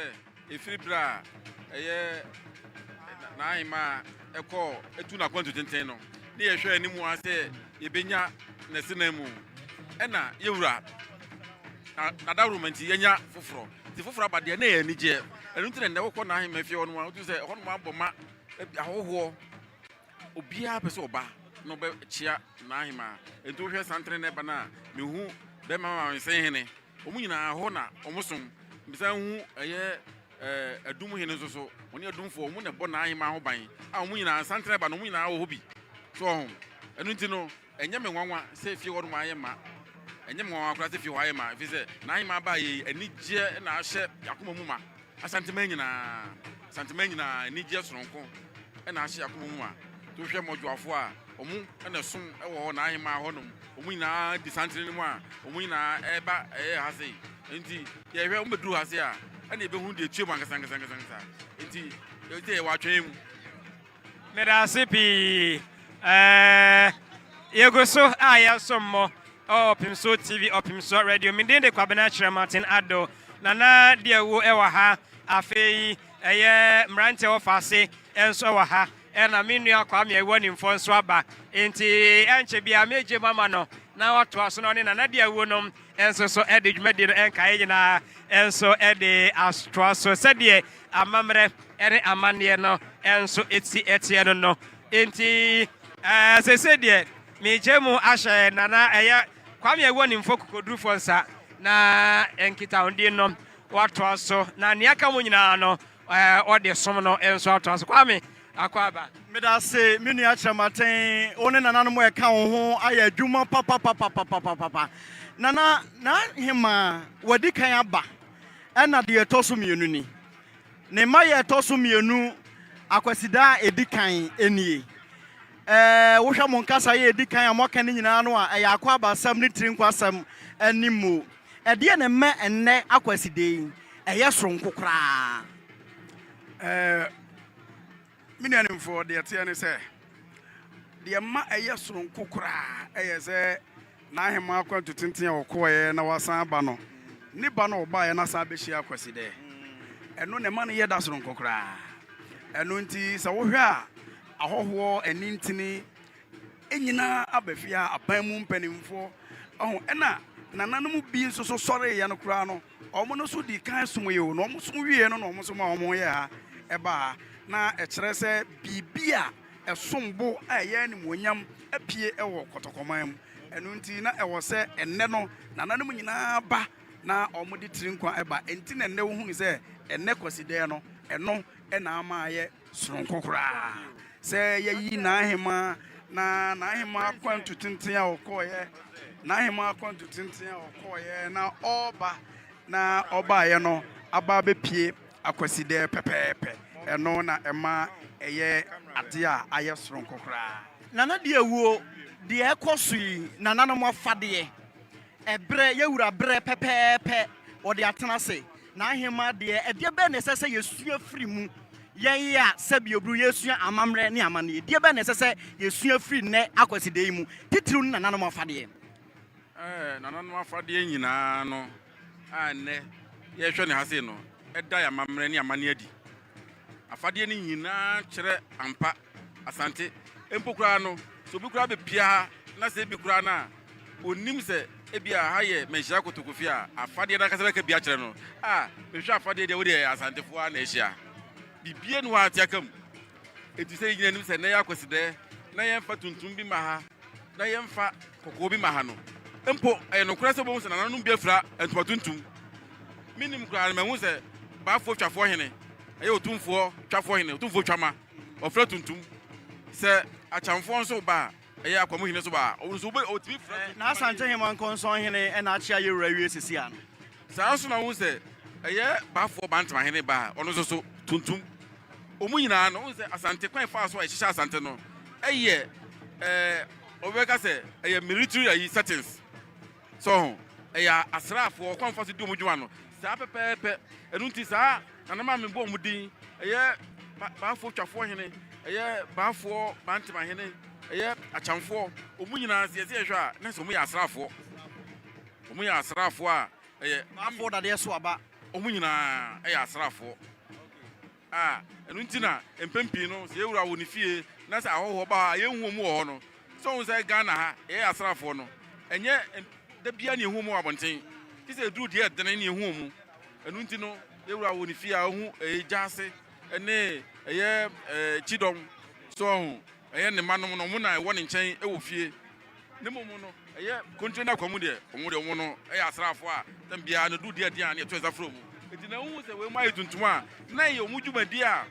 ɛfiri berɛ a ɛyɛ n'ahemmaa kɔɔ ɛtu n'akwantu tenten no, ne yɛhwɛ anim ara sɛ yɛbɛnya n'asenamu, ɛnna yɛwura, na n'adaworoma nti yɛanya foforɔ. Dze fofor aba deɛ, na ɛyɛ anigyeɛ. Ɛno nti na nnɛ wokɔ n'ahenman fie hɔnom a, wotum sɛ ɛhɔnom abɔ ma, ɛbi ahohoɔ. Obiara pɛ sɛ ɔba na ɔbɛkyea n'ahemaa. Nti wohwɛ santere nnɛ ba no a, mehu bɛrima ma wensen hene. Wɔn nyinaa ɛhɔ na wɔsom. Mesan hu ɛyɛ ɛɛ adum hene nso so. Wɔne adumfoɔ, wɔn na ɛbɔ n'ahemaa ho ban a wɔn nyinaa santere ba no, wɔn nyinaa wɔ hɔ bi. So wɔn? Ɛno nti no, Ɛnyɛ me nwanwa sɛ fie hɔ nom ayɛ ma. Ɛnyɛ me nwanwa koraa sɛ fie hɔ ayɛ ma, ɛfiri sɛ n'ahemmaa baeɛ yi, anigyeɛ na ahyɛ yɛn akoma mu ma. Asanteman nyinaa, Asanteman nyinaa, anigyeɛ sononko na ahyɛ yɛn akoma mu ma. Nti wohwɛ mmɔdwoafoɔ a, wɔn na ɛsom wɔ hɔ, n'ahemmaa hɔ nom. Wɔn nyinaa di santere no mu a, wɔn nyinaa ɛreba ɛyɛ ha sei. Nti yɛhwɛ, wɔbɛduru ha sei a, ɛnna yɛbɛhunu deɛ ɛtua mu ankasankasankasa. Nti yɛwɔ atwɛn mu. Meda ase pii. Ɛɛ, yɛgu so a yɛsom mo ɛwɔ Ɔpem So TV, Ɔpem So Radio. Me din de Kwabena Kyerɛmaten Ado, na na deɛ wo ɛwɔ ha afei ɛyɛ mmeranteɛ wɔ faase nso ɛwɔ ha ɛna me nua Kwame ɛwɔ nimfoɔ nso aba nti ɛnkyɛ bia megye mama no na watoa so na ɔne nana deɛ wo nom nso so de dwumadi no nkaeɛ nyinaa nso de atoa so sɛdeɛ amammerɛ ne amanneɛ no nso ti teɛ no no nti sese deɛ megye mu ahyɛ nana ɛyɛ kwame ɛwɔ nimfo kokodurufoɔ nsa na nkitahodi no watoa so na nea aka mu nyinaa no ɔde som no nso atoa so kwame Akwaaba. Medase me nua Kyerɛmaten, wo ne nananom a ɛka wo ho ayɛ adwuma papapapapapapa. Nana Naahemaa, w'adi kan aba, ɛna deɛ ɛtɔ so mmienu ni. Ne mma yɛ ɛtɔ so mmienu Akwasida a ɛdi kan nie. Ɛɛ wohwɛ mo nkasa yɛ ɛdi kan a moaka ne nyinaa no a, ɛyɛ Akwaaba asɛm ne Tirinkwasɛm ne mo. Ɛdeɛ na ɛma ɛnnɛ Akwasida yi ɛyɛ soronko koraa. Ɛɛ. Me nuanimfoɔ, deɛ ɛteɛ ne sɛ, deɛ ɛma ɛyɛ soronko koraa yɛ sɛ n'ahemman akwantu tenten a ɔkɔeɛ na wasan aba no, ne ba no a ɔbaeɛ na asan abɛhyia Kwasida, ɛno na ɛma no yɛ da soronko koraa. Ɛno nti, sɛ wohwɛ a, ahɔhoɔ, anintini, nyinaa aba fie a aban mu mpanimfoɔ, ɛna nananom bi nso so sɔreeɛ no koraa no, Wɔn no nso dii kan somee o, na wɔn som wieeɛ no na wɔn nso maa wɔn yɛɛ ha, ɛbaa ha. Na ɛkyerɛ sɛ biribi a ɛsom bo a ɛyɛ animuonyam apue wɔ Kɔtɔkɔman mu. Ɛno nti na ɛwɔ sɛ ɛnnɛ no nananom nyinaa ba na wɔde tiri nkwa ba. Enti na ɛnnɛ wohunu sɛ ɛnnɛ Kwasidɛɛ no, ɛno na ama ayɛ. soronko koraa sɛ yɛayi n'ahemaa na n'ahemaa akwantu tenten a ɔkɔeɛ n'ahemaa akwantu tenten a ɔkɔeɛ na ɔreba na ɔbaeɛ no aba abɛpie akwasidɛ pɛpɛɛpɛ ɛno na ɛma ɛyɛ adeɛ a ayɛ soronko koraa. Nana di awuo, deɛ ɛkɔ so yi nananom afadeɛ, ɛberɛ, yɛwura berɛ pɛpɛɛpɛ wɔde atena ase N'aheman deɛ, ɛdeɛ bɛn na ɛsɛ sɛ yɛsua firi mu? Yɛn yi a sɛbi oburu yɛsua amammerɛ ne amanneɛ, deɛ bɛn na ɛsɛ sɛ yɛsua firi nnɛ akwasi da yi mu, titiriw ne nananom afadeɛ? Ɛɛ, nananom afadeɛ nyinaa no a nnɛ yɛrehwɛ no ha sei no da yɛn amammerɛ ne amanneɛ adi. Afadeɛ no nyinaa kyerɛ ampa Asante, mpo koraa no, sɛ obi koraa bepia ha na sɛ ebi koraa na onnim sɛ ebia ha yɛ Manhyira Kotoko fie a Afadeɛ no ankasa bɛka bi akyerɛ no, a, mehwɛ Afadeɛ deɛ, wo deɛ Asantefoɔ ara na ahyia. Biribiara nni hɔ a ateaka mu. Enti sɛ yɛn nyinaa nim sɛ nnɛ yɛ Akwasidaɛ na yɛmfa tuntum bi mma ha na yɛmfa kɔkɔɔ bi mma ha no, mpo ɛyɛ nokorɛ sɛ wobɛhu sɛ nananom bi afira ntoma tuntum. Mennim koraa no, mahu sɛ Baafoɔ Twafoɔ Hene, ɛyɛ Otumfoɔ Twafoɔ Hene, Otumfoɔ Twama. ɔfrɛ tuntum. Sɛ Akyamfoɔ nso ba a, ɛyɛ Akwamuhene nso ba a, ɔno nso wobɛ, ɔtumi frɛ tuntum. Na Asanteheman Nkɔnsɔnhene ɛna Akyea Yewura wie sisi ano. Saa nso na wohu sɛ ɛyɛ Bafoɔ Bantamahene ba a, ɔno nso so tuntum. Wɔn nyinaa no, wohu sɛ Asante kwan faa so a ɛhyehyɛ Asante no, ɛyɛ ɛɛ, wɔbɛka sɛ ɛyɛ military ayi settings. So ho, ɛyɛ asraafoɔ, ɔkwan a wɔfa so di wɔn dwuma no, saa pɛpɛɛpɛ. Ɛno nti saa na na maame bɔ wɔn din, ɛyɛ Baafoɔ Twafoɔ hene, ɛyɛ Baafoɔ Bantema hene, ɛyɛ Akyamfoɔ, wɔn nyinaa sɛ yɛsɛ yɛhwɛ a, na sɛ wɔyɛ asraafoɔ. Wɔyɛ asraafoɔ a ɛyɛ. Baafoɔ Dadeɛ so aba. Wɔn nyinaa yɛ asraafoɔ. A, ɛno nti na mpɛn pii no sɛ yɛwura wɔ ne fie na sɛ ahɔhoɔ ba hɔ a yɛnhu wɔn wɔ hɔ no. Sɛ wohu sɛ Ghana ha yɛyɛ asraafoɔ no, ɛnyɛ da biara na yɛhu wɔn wɔ abɔnten, gye sɛ ɛduru deɛ ɛdene na yɛhu wɔn. Ɛno nti no yɛwura wɔ ne fie a ɔhu ɛyɛ Gyaase ne ɛyɛ Kyidɔm, so ɔho, ɛyɛ ne mma nom no, wɔn na ɛwɔ ne nkyɛn wɔ fie. Ne mmom no, ɛyɛ kontire ne akwamu deɛ. Wɔn deɛ, wɔn no yɛ asraafoɔ a tɛm biara no duru di adeɛ a na yɛto nsa frɛ wɔn. Enti na wohu sɛ wei mu ayɛ tuntum a, na ɛyɛ wɔn dwumadie a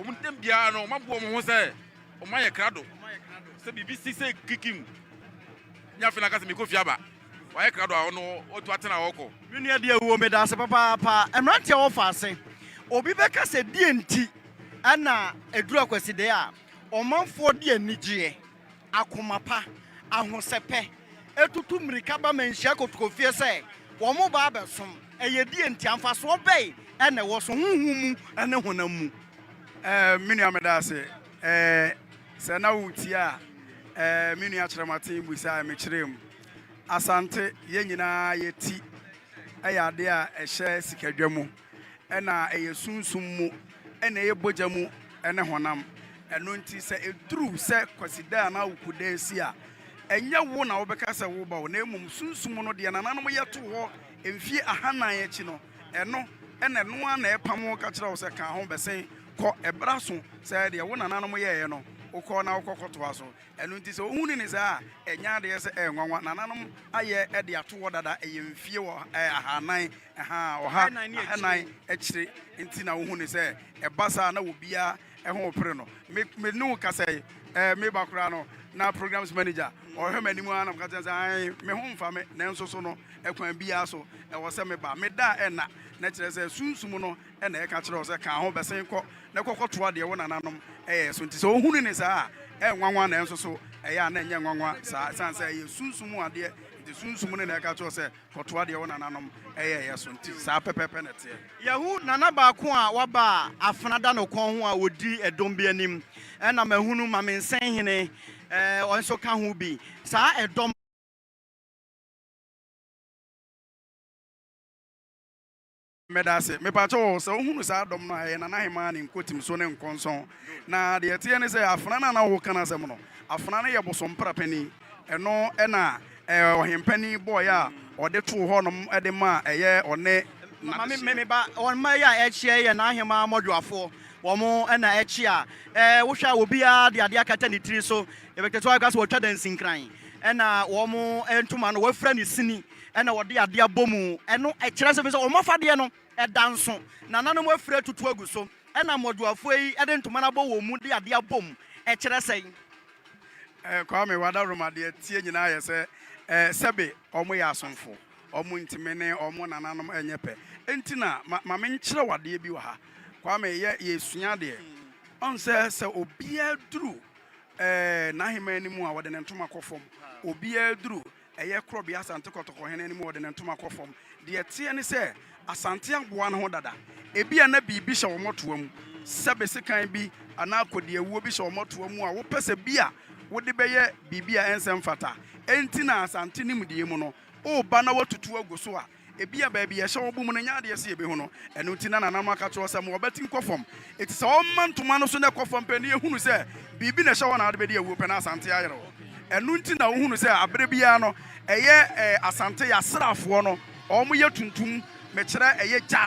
wɔn tɛm biara no wɔaboa wɔn ho sɛ wɔayɛ krado. Sɛ biribi si sɛ kikim ne afei na aka sɛ mekɔ fie aba, wɔayɛ krado a ɔno ɔtu atena a ɔkɔ. Me nua deɛ wuo meda ase papaapa mmeranteɛ wɔfa ase obi bɛka sɛ deɛ nti ɛna ɛduru akwasideɛ a ɔmanfoɔ de anigyeɛ akoma pa, ahosɛpɛ, atutu mmirika ba ma nhyia kotokofie sɛ wɔreba abɛsom. Ɛyɛ deɛn nti? Amfasoɔ bɛn na ɛwɔ so, honhom mu ne honam mu? Ɛɛ, me nua, meda ase. Ɛɛ, sɛ na woretie a, ɛɛ, me nua kyerɛ m'aten busaeɛ, mekyerɛɛ mu. Asante, yɛn nyinaa yɛn ti yɛ adeɛ a ɛhyɛ sikadwa mu. na ɛyɛ sunsum mu na ɛyɛ bɔgya mu ne honam. Ɛno nti sɛ ɛduru sɛ Kwasida anaa Wukuda resi a, ɛnyɛ wo na wobɛka sɛ woreba o, na mmom sunsum no deɛ nananom yɛ too hɔ mfeɛ ahanan akyi no, ɛno na ɛno ara na ɛrepam wo ka kyerɛ wo sɛ ka ho bɛsen kɔ. Ɛberɛ aso sɛ deɛ wo nananom yɛeɛ no, wokɔ na wokɔ kɔtoa so. Ɛno nti sɛ wohunu no saa a, ɛnyɛ adeɛ sɛ ɛyɛ nwanwa. Nananom ayɛ de ato hɔ dada, ɛyɛ mfeɛ ahanan. Ɛha ɔha na ɛnan akyire nti na wohu no sɛ ɛba saa na obiara ɛho pere no. Me me ne wo kasa yi ɛɛ me ba koraa no na programs manager ɔhwɛ m'anim ara na meka kyerɛ sɛ ae me ho mfa me nanso so no ɛkwan biara so ɛwɔ sɛ meba meda a ɛnna na kyerɛ sɛ sunsum no ɛna ɛka kyerɛ wo sɛ ka ho bɛsen kɔ na kɔkɔtoa deɛ wo nananom ɛyɛ so nti sɛ ohunu ne saa a ɛnwanwa nanso so ɛyɛ a na ɛnyɛ nwanwa saa ɛsiane sɛ ɛyɛ sunsum adeɛ nti sunsum no na ɛka kyerɛ sɛ Kɔtoa deɛ wo nananom yɛeɛ so. Nti saa pɛpɛɛpɛ na ɛteɛ. Yɛahu nana baako a waba a afena da no kɔn ho a ɔdi ɛdɔm bi anim. Ɛna mahunu Mamensɛnhene, ɔno nso ka ho bi. Saa ɛdɔm. Medase, mepakyɛ wo, sɛ wohunu saa dɔm no a, ɛyɛ Nana Hemaa ne Nkotim so ne Nkɔnsɔn. Na deɛ ɛteɛ ne sɛ, Afena no a na woreka n'asɛm no, Afena no yɛ Bosompra panin. Ɛno na ɛɛ Ɔhempanin bɔeɛ a ɔde too hɔnom de maa ɛyɛ ɔne Nana Hyia. Me ba, wɔn mma yi a ɛrekyea yi yɛ Nahemaa mmɔdwoafoɔ. Wɔn na ɛkyea. Ɛɛ wohwɛ a, obiara de adeɛ akata ne tiri so. Yɛbɛtete hɔ a, yɛbɛka sɛ wɔatwa dansinkran. Ɛna wɔn ntoma no, wɔafira no sini. na wɔde adeɛ abɔ mu. Ɛno kyerɛ sɛ, ɛfiri sɛ wɔn afadeɛ no, ɛda nso. Nananom afire atutu agu so, ɛna mmɔdwoafoɔ yi de ntoma no abɔ wɔn mu de adeɛ abɔ mu. Ɛkyerɛ sɛn? Eh, Kwame, w'adarom adeɛ teɛ nyinaa yɛ sɛ eh, sɛbe wɔyɛ asomfo, wɔn ntumi ne wɔn nananom nyɛ pɛ. Enti na ma, ma menkyerɛ wo adeɛ bi wɔ ha. Kwame, yɛ, yɛsua adeɛ. Ɔn sɛ, sɛ obiara duru eh, n'ahemman no mu a, wɔde ne ntoma kɔ fam. Obiara duru. ɛyɛ korɔbea Asante Kɔtɔkɔhene no mu wɔde ne ntoma kɔ fam. Deɛ ɛteɛ ne sɛ, Asante aboa ne ho dada. Ebia na biribi hyɛ wɔn toa mu, sɛ be sekan bi anaa kɔdiawuo bi hyɛ wɔn toa mu a wopɛ sɛ bi a wode bɛyɛ biribi a ɛnsɛ mfata. Enti na Asante nimdeɛ mu no, woba na woatutu agu so a, Ebia baabi a ɛhyɛ wɔn bom no nyɛ adeɛ sɛ yɛbɛhu no, ɛno nti na nananom aka akyerɛ wo sɛ ma w'abati nkɔ fam. Enti sɛ wɔma ntoma no so na ɛkɔ fam pɛ na yɛhunu sɛ biribi na ɛhyɛ hɔ na wode bɛdi awuo pɛ na Asante ayere wo. Ɛno nti na wohunu sɛ aberɛ biara no ɛyɛ Asante asraafoɔ no wɔn yɛ tuntum, mekyerɛ ɛyɛ gya.